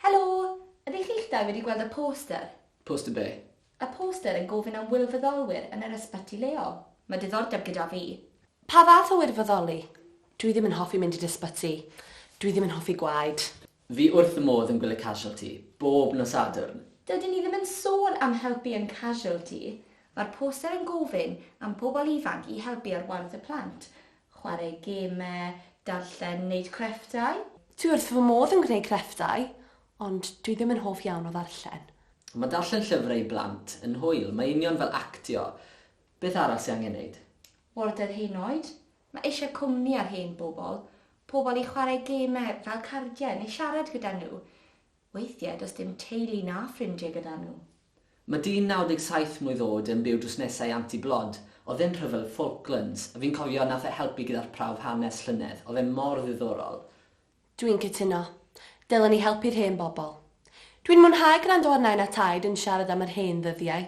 Helo! Ydych chi'ch dau wedi gweld y poster? Poster be? Y poster yn gofyn am wirfoddolwyr yn yr ysbyty leol. Mae diddordeb gyda fi. Pa fath o wirfoddoli? Dwi ddim yn hoffi mynd i'r ysbyty. Dwi ddim yn hoffi gwaed. Fi wrth fy modd yn gwylio Casualty bob nos Sadwrn! Dydyn ni ddim yn sôn am helpu yn Casualty. Mae'r poster yn gofyn am bobl ifanc i helpu ar waith y plant. Chwarae gemau, darllen, wneud crefftau. Dwi wrth fy modd yn gwneud crefftau. Ond dwi ddim yn hoff iawn o ddarllen. Mae darllen llyfrau i blant yn hwyl, mae union fel actio. Beth arall sy angen neud? Warder Hen Oed, Mae eisiau cwmni ar hen bobl, pobl i chwarae gemau fel cardiau neu siarad gyda nhw. Weithiau does dim teulu na ffrindiau gyda nhw. Mae dyn 97 mlwydd oed yn byw drws nesa i Anti Blod. Oedd e'n rhyfel Falklands. Fi'n cofio nath e helpu gyda'r prawf hanes llynedd. Oedd e mor ddiddorol. Dwi'n cytuno. Dylen ni helpu'r hen bobl. Dwi'n mwynhau gwrando ar Nain a Taid yn siarad am yr hen ddyddiau,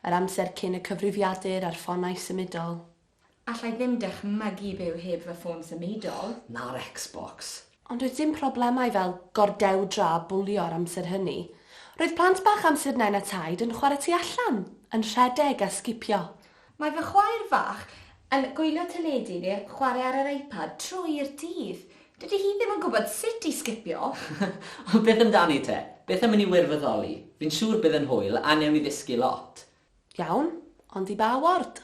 yr amser cyn y cyfrifiadur a'r ffonau symudol. Alla i ddim dychmygu byw heb fy ffôn symudol. Na'r Xbox. Ond doedd dim problemau fel gordewdra a bwlio ar amser hynny. Roedd plant bach amser Nain a Taid yn chwarae tu allan, yn rhedeg a sgipio. Mae fy chwaer fach yn gwylio teledu neu chwarae ar yr iPad trwy'r dydd. Dydy hi ddim yn gwybod sut i sgipio! Ond beth amdani te? Beth am i ni wirfoddoli? Fi'n siŵr bydd yn hwyl a wnewn ni ddysgu lot! Iawn, ond i ba ward?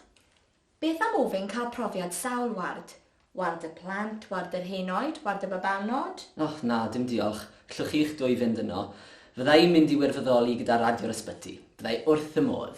Beth am ofyn cael profiad sawl ward? Ward y plant, ward yr henoed, ward y babanod? O, na, dim diolch. G'llwch chi'ch dwy fynd yno. Fydda i'n mynd i wirfoddoli gyda Radio'r Ysbyty. Bydda i wrth fy modd!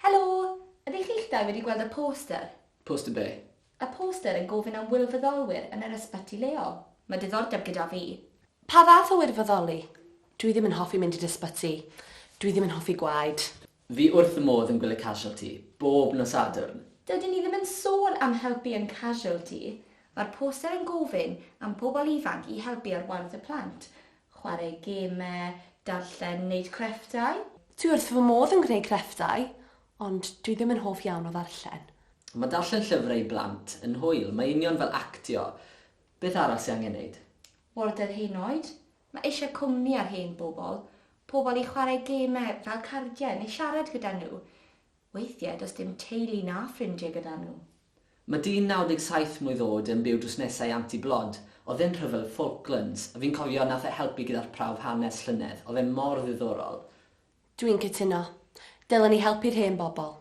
Helo! Ydych chi'ch dau wedi gweld y poster? Poster be? Y poster yn gofyn am wirfoddolwyr yn yr ysbyty leol. Mae diddordeb gyda fi. Pa fath o wirfoddoli? Dwi ddim yn hoffi mynd i'r ysbyty. Dwi ddim yn hoffi gwaed. Fi wrth fy modd yn gwylio Casualty bob nos Sadwrn. Dydyn ni ddim yn sôn am helpu yn Casualty. Mae'r poster yn gofyn am bobl ifanc i helpu ar waith y plant. Chwarae gemau, darllen, wneud crefftau. Dwi wrth fy modd yn gwneud crefftau. Ond dwi ddim yn hoff iawn o ddarllen. Mae darllen llyfrau i blant yn hwyl, mae union fel actio. Beth arall sy angen neud? Warder Hen Oed, Mae eisiau cwmni ar hen bobl, pobl i chwarae gemau fel cardiau neu siarad gyda nhw. Weithiau does dim teulu na ffrindiau gyda nhw. Mae dyn 97 mlwydd oed yn byw drws nesa i Anti Blod, oedd e'n rhyfel y Falklands, fi'n cofio nath e helpu gyda'r prawf hanes llynedd, oedd e mor ddiddorol. Dwi'n cytuno. Dylen ni helpu'r hen bobl.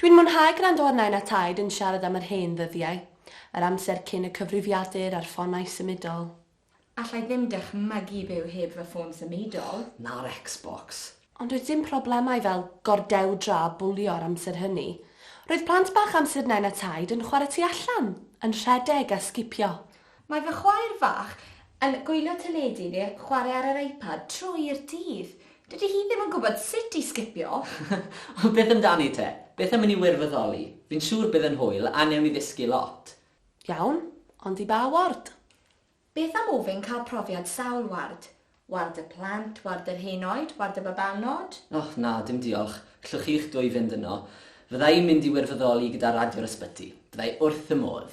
Dwi'n mwynhau gwrando ar Nain a Taid yn siarad am yr hen ddyddiau, yr amser cyn y cyfrifiadur a'r ffonau symudol. Alla i ddim dychmygu byw heb fy ffôn symudol. Na'r Xbox. Ond doedd dim problemau fel gordewdra a bwlio ar amser hynny. Roedd plant bach amser Nain a Taid yn chwarae tu allan, yn rhedeg a sgipio. Mae fy chwaer fach yn gwylio teledu neu chwarae ar yr iPad trwy'r dydd. Dydy hi ddim yn gwybod sut i sgipio! Ond beth amdani te? Beth am i ni wirfoddoli? Fi'n siŵr bydd yn hwyl a wnewn ni ddysgu lot! Iawn, ond i ba ward? Beth am ofyn cael profiad sawl ward? Ward y plant, ward yr hen oed, ward y babanod? O, na, dim diolch. G'llwch chi'ch dwy fynd yno. Fydda i'n mynd i wirfoddoli gyda Radio'r Ysbyty. Bydda i wrth fy modd!